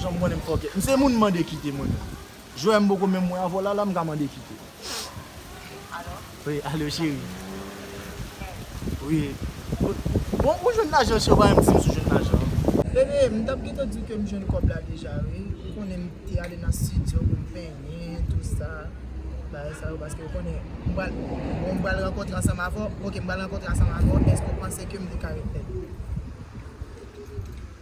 Janm konnen m fòkè. M se moun mande kite mwen menm. Jwè m poko menm wè avw lala m ka mande kite. Alo. Wi alo cheri. Mèd. Wi. Bon ou jwenn lajan cheri ou pa menm dim si ou jwenn lajan an. Bebe m tap gentan diw kem jwenn kòb la deja wi. Ou konnen m te ale nan studio pou m penyen tout sa. Bagay sa yo paske ou konnen m pral bon m pral rankontre ansanm avw ok m pral rankontre ansanm avw èske ou panse kem te ka ret lèd.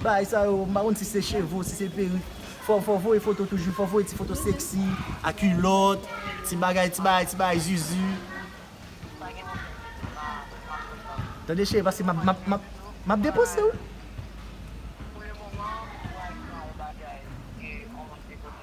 Bagay sa yo, m pa konn si se cheve ou si se perik, fò fò voye foto toujou, fò voye ti foto seksi, a kulòt, ti bagay ti bagay ti bagay zuzu. Tande cheri pase map map map map deposew.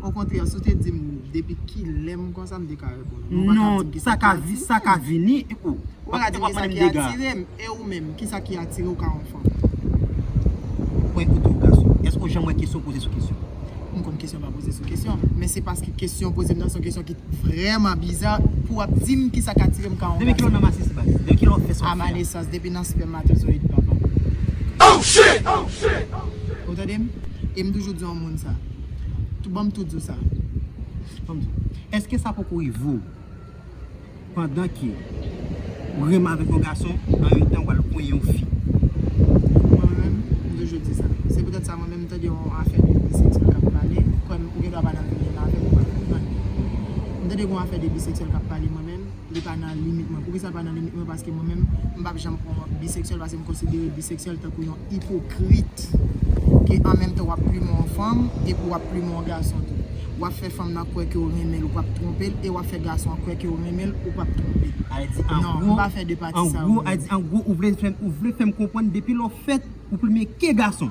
Okontrè, si w te di m depi kilè m konsa, m te ka reponn ou. Men w pa ka di m kisa k atire m. Ou pa ka di m kisa ki atire m. E ou menm, kisa ki atire w ka yon fanm? Mwen koute w gason. Èske w janm wè kesyon poze sou kesyon? M konn kesyon pa poze sou kesyon. Men se paske kesyon w poze m nan se yon kesyon ki vrèman biza pou w ap di m kisa k atire m ka yon gason. Depi kilè w nan masis bat? Depi kilè w fè sòti a? A ma nesans, depi nan spèmatozoyid papa m. Ou tande m? E m toujou di yon. moun sa. Tou banm tou di w sa. Banm di w. Eske sa poko rive w pandan ke w renmen avèk yon gason an menm tan wal kwenyen yon fi. Mwen menm m toujou di sa. Se petèt sa mwen menm m tande yon afè de biseksyèl kap pale. Kwè m ou gen dwa pa nan menm menn avèm ou pa nan menm nan. M tande gon afè de biseksyèl kap pale mwen menm. li pa nan limit mwen. Poukisa li pa nan limit mwen? Paske mwen menm, m pap janm pran biseksyèl paske m konsidere biseksyèl tankou yon ipokrit ke an menm tan w ap plimen yon fanm epi w ap plimen yon gason tou. W ap fè fanm nan kwè ke w renmen l ou pap twonpe l e w ap fè gason an kwè ke w renmen l ou pap twonpe l. Non, m pa fè de pati sa yo menm. An gwo, ou vle fè m konprann depi lè w fèt, ou plimen ke gason?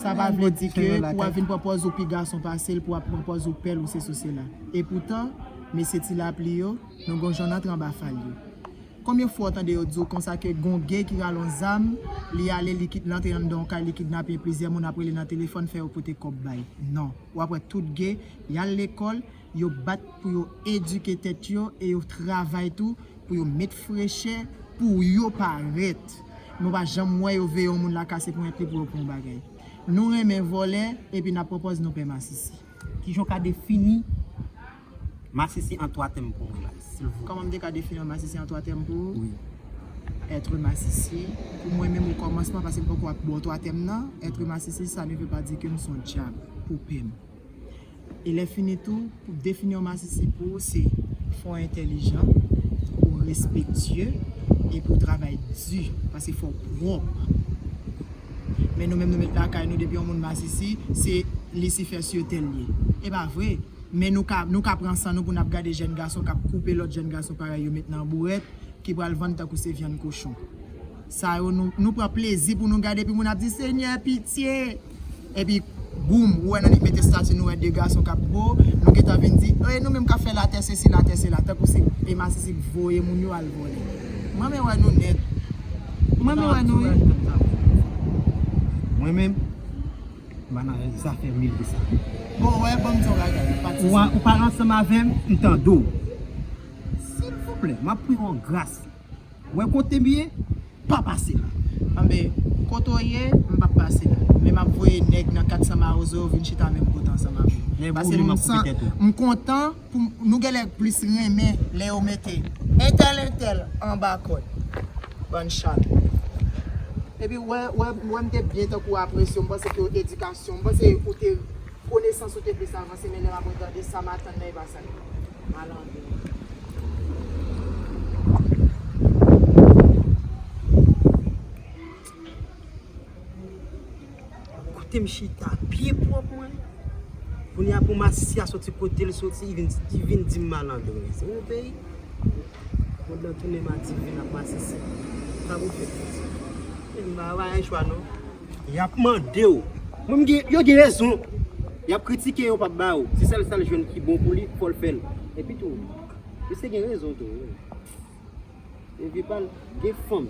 Sa pa vle di ke pou wap vin pran pòz ou pi gason pase l, pou wap pran pòz ou pèl ou sesi ou sela. E poutan, mesye ti lapli yo, nou gon jan n antre anba fal yo. Konbyen fwa w tande yo di w konsa ke gon gay ki rale yon zam, li ale li kit, li antre anndan yon kay li kidnape plizyè moun ap rele nan telefòn fè yo pote kòb bay. Non. Wap wè tout gay, yal lekòl. yo bat pou yo edike tèt yo e yo travay tou pou yo met frechè pou yo parèt. Nou pa janm wè yo veye yon moun la kase ponyèt li pou yo pran yon bagay. Nou renmen vòlè epi nap pwopòz nou pè masisi. Kijan w ka defini masisi an 3 tèm pou mwen la silvouplè? Kòman m te ka defini yon masisi an 3 tèm pou ou? Wi. Être masisi, pou mwen menm o kòmansman paske m poko ap ba w 3 tèm nan, être masisi sa ne ve pa di ke m son dyab pou pè m. E lè fini tou, pou defini yon masisi pou ou se fò w entèlijan, ou respektye, epi ou travay di, pase fò w pwòp. Men nou menm nou met lakay nou depi yon moun masisi, se lisifè sye tè l ye. E pa vre, men nou ka nou ka pran san nou pou n ap gade jèn gason k ap koupe lòt jèn gason parèy yo met nan bourèt ki pral vann tankou se vyann kochon. Sa yo nou nou pran plezi pou nou gade epi moun ap di senyè pitye! Epi boom ou wè nan li mete stati nou wè 2 gason kap bo nou gentan vin di e nou menm kap fè latè sesi latè sela tankou si e masisi k voye moun yo al vòlè m renmen wè nou nèt m renmen wè nou wi mwen menm m pa nan zafè mele sa bon ou wè banm di yon bagay pati sa ou pa ansanm avèm m tande w silvouplè map priye w gras. Wè kotem ye pa pase la. Anben kote w ye m pap pase la. Men map voye nèg nan 400 mawozo yo vin chita menm kote ansanm avè w. Pase m kontan pou nou genlè plis renmen lè yo mete entèl entèl anba kòd. Bann chat. Epi wè wè m te byen tankou apresye w m panse ke edikasyon m panse ou te konesans ou te plis avanse men lè map retande sa m atann nan e pa sa. Kote m chita byen pwòp mwen. Kounye a pou Masisi a soti kote l soti, li vin di m malandren. Se yon peyi. Mwen dwe tounen m a Divin ak Masisi. Sa pou fè. Mwen pa gen chwa non. Yap mandew Mwen m gen yo gen rezon Yap kritike yo pap ba ou Se sèl sal jwenn ki bon pou li fòl fèl Epi tou misye gen rezon tou wi Nan vi pal gen fanm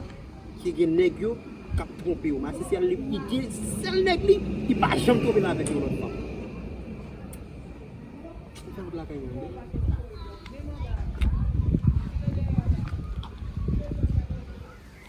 ki gen nèg yo kap twonpe yo masisi al li gen sèl nèg li ki pa janm twonpe l avèk yon lòt fanm Ou fè wout lakay mwen an de.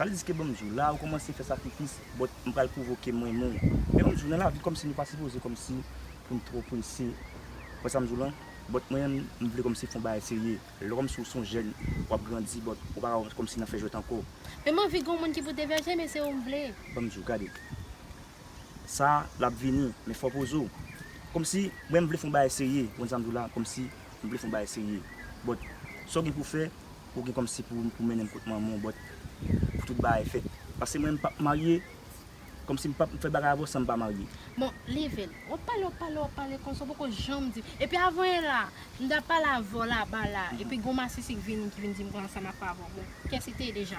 Sa vle di ske banm diw la ou komanse fè sakrifis but m pral pwovoke m renmen w men banm diw nan lavi komsi nou pa sipoze komsi pou n two prese ou wè sam diw lan but mwen menm m vle komsi fon bagay serye lè komsi ou son jèn wap grandi but ou paka wè komsi nan fè jwèt anko. Men m anvi gon moun ki pou devèje men se ou m vle. Banm diw gade sa lap vini men fò poze w komsi mwen m vle fon bagay serye ou konn sam diw la komsi m vle fon bagay serye but sa w gen pou fè Ou gen kòm si pou ou mennenm kot manmanw but pou tout bagay fèt pase mwen mpap marye kòm si mpap fè bagay avèw sanm pa marye. Bon level wap pale wap pale wap pale konsa ou poko janm di epi avan e la m ta pale avèw laba la epi gon masisi k vini ki vin dim kòman sa map pale avèw bon kiyès li te ye deja.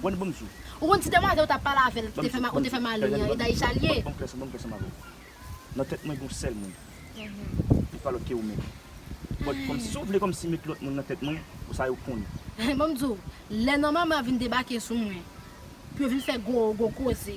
Bon bon msou. Ou konn ti demwazel ou tap pale avel ki te fè ou te fè mal li an e Daïsha li ye. Bon kè sanm bon kè sanm avèw. Nan tèt mwen gon sèl moun. Li pa lòt ke ou menm. Bon kòmsi ou vle kòmsi met lòt moun nan tèt mwen bon sa yo konn. Bon mdiw lè nan mama vin debake sou mwen pou yo vin fè gwo gwo koze.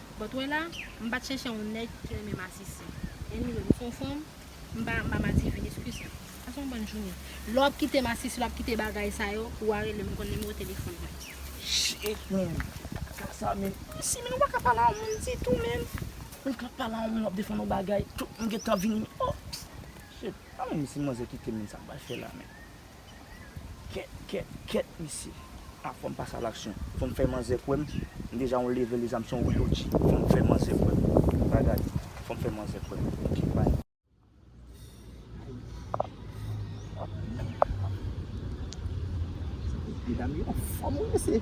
But wè la, m pat chèchè yon nèg ki renmen masisi. Anyway, m son fanm, m pa, m pa madivin, excuse m. Pase yon bòn jounen. Lè wap kite masisi, lè wap kite bagay sa yo, ou a rele m, ou konn nimewo telefòn mwen. Shiitt menn, sa sa menn. Mesi menn ou paka pale a yon moun ditou menn. Ou ka pale a yon moun wap defann yon bagay, tout moun gentan vini menn. Oh! Shiitt, an menn si manzè kite m menn sa m pral fè la menn. Kèt kèt kèt mesye. Ah fòm pase a laksyon. Fòm fè manzè kwèm m deja yon leve lezam son wi OG. Fòm fè manzè kwèm. Bagay. Fòm fè manzè kwèm. Ok bye. Medam yo anfòm wi mesye.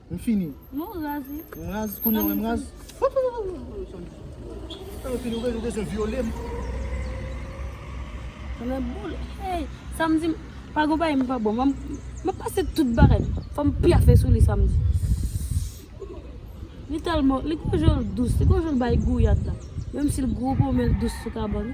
M fini. Non w raz wi. M raz? Kounye a w wè m raz? Ew fini ou bezwen vyole m? Mwen boule. Hey! Samdi pa gon bagay m pa bon. Mwen pase tout bagay. Fò m pyafe sou li samdi. Li tèlman, li gon jan l dous. Li gon jan l bay gouyad la. Menm si l gwo bonm men l dous sou kabann.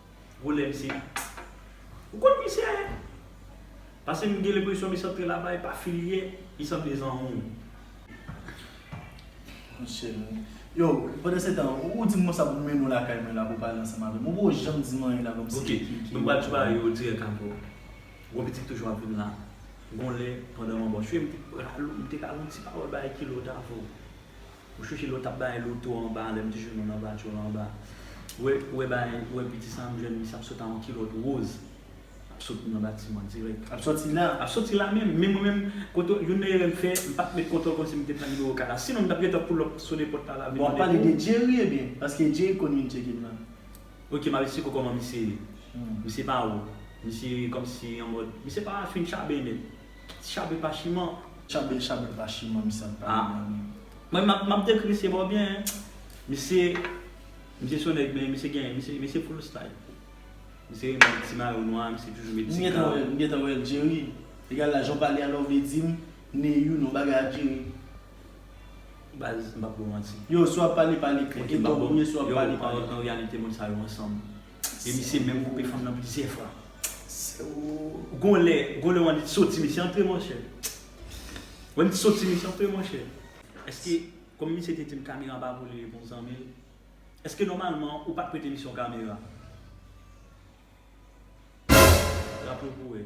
Volè misye ye. Ou konn misye ye. Pase m gen lenpresyon misye antre laba e pa fil ye. Li sanble zanmi. Yo, pandan se tan, ou di m konsa pou m mennen w lakay mwen la pou w pale ansanm avè m. Ou poko janm di m anyen la pou m si ki ki. Ok, nou pral tuwaye yo dirèk ankò. Gwo pitit toujou ap vin la. Gon lè, pandan m anba w, m te pral ou, m te ka gen yon ti pawòl bay kilòt avè w. Ou chouchi lè w tap bay loto anba an lè m te jwenn ou nan vatyo l anba ou wè bagay ou wè piti sa m jwenn misye ap sot a yon kilòt woz ap sot nan batiman dirèk. Ap soti la. Ap soti la menm. Men mwen menm kote youn nan erè m fè m pat met kontòl kòmsi m te pran nimewo kay la. Sinon m tap gentan pull up sone pòt kay la vin mande pou. Bon wap pale de Jerry ebyen paske Jerry konn vin tcheke m nan. Ok map esplike w kòman misye ye. Misye pa wou. Misye kòmsi anmòd misye pa fin chaben nèt. Tchabe pa chiman. Tchabe tchabe pa chiman misye ap pale nan li. Mwen menm map dekri misye bon byen hein. Misye misye son nèg men misye gen misye misye full style. Misye renmen met ti mayo nwa misye toujou met ti kap. M gentan wèl Jerry egal la jan w pale a la w vle dim Neyou non bagay ak Jerry. Baz m pap bòw manti. Yow si wap pale pale klè. Edo gouye si wap pale pale klè. An reyalite moun sa yo ansanm. E misye menm koupe fanm nan plizyè fwa. Gon lè gon lè w annik soti misye antre monchè. W annik soti misye antre monchè. Eske kòm misye te di m kamera pa pou li e pou zanmi l. Eske nòmalman ou pa t prete misye yon kamera. Raple w pou wè.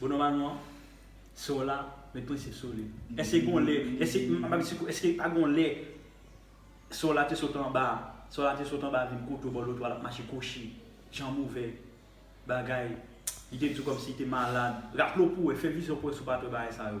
Bon nòmalman, sè w la met prensip sou li. Èske gon lè, èske, m ap di sikou, èske pa gon lè sè w la te sot anba, sè w la te sot anba vin kote w bò lotwa l ap mache kwochi, janm ouvè, bagay, li te di w kòmsi li te malad. Raple w pou wè, fè vizyon pou wè si w pa t wè bagay sa yo.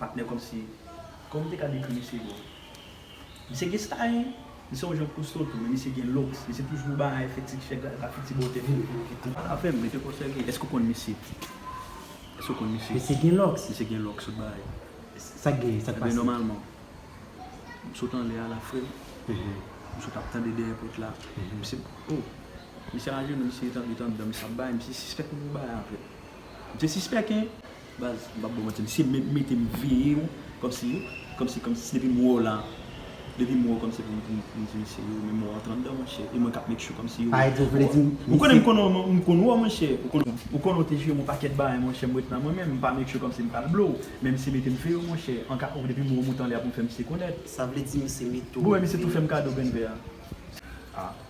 Patnè kòmsi Kòman m te ka dekri misye bon Misye gen style Misye yon jan kousto tou men misye gen looks Misye toujou bay fè ti chèk la epa fè ti bòtè tou Ou pa ka fè m mete kò sèvi Èske ou konn misye Èske ou konn misye Misye gen looks Misye gen looks sot bay Sa k genyen sa k pase Ebyen nòmalman M sot anlè a la frè m M sot ap tande dèyè pòt la Misye oh Misye ajenou misye etabli tandan misye ap bay Misye sispèk m pou bay avè l Misye sispèk hein. Baz m pap baw manti misye menm mete m veye w komsi komsi komsi si depi m wè w la depi m wè w komsi pou m di misye yo men mò antre andan monchè e mwen kap make sure komsi yo ou konnen m konnen w m konn wè w monchè ou konnen w te jwe m yon pakèt bagay monchè m ret la mwen menm m pa make sure komsi m pral blo w men misye mete m veye w monchè anka ou depi m wè w moute anlè a pou m fè misye konèt sa vle di misye mete w veye w bon e misye tou fè m kado grenn vè a.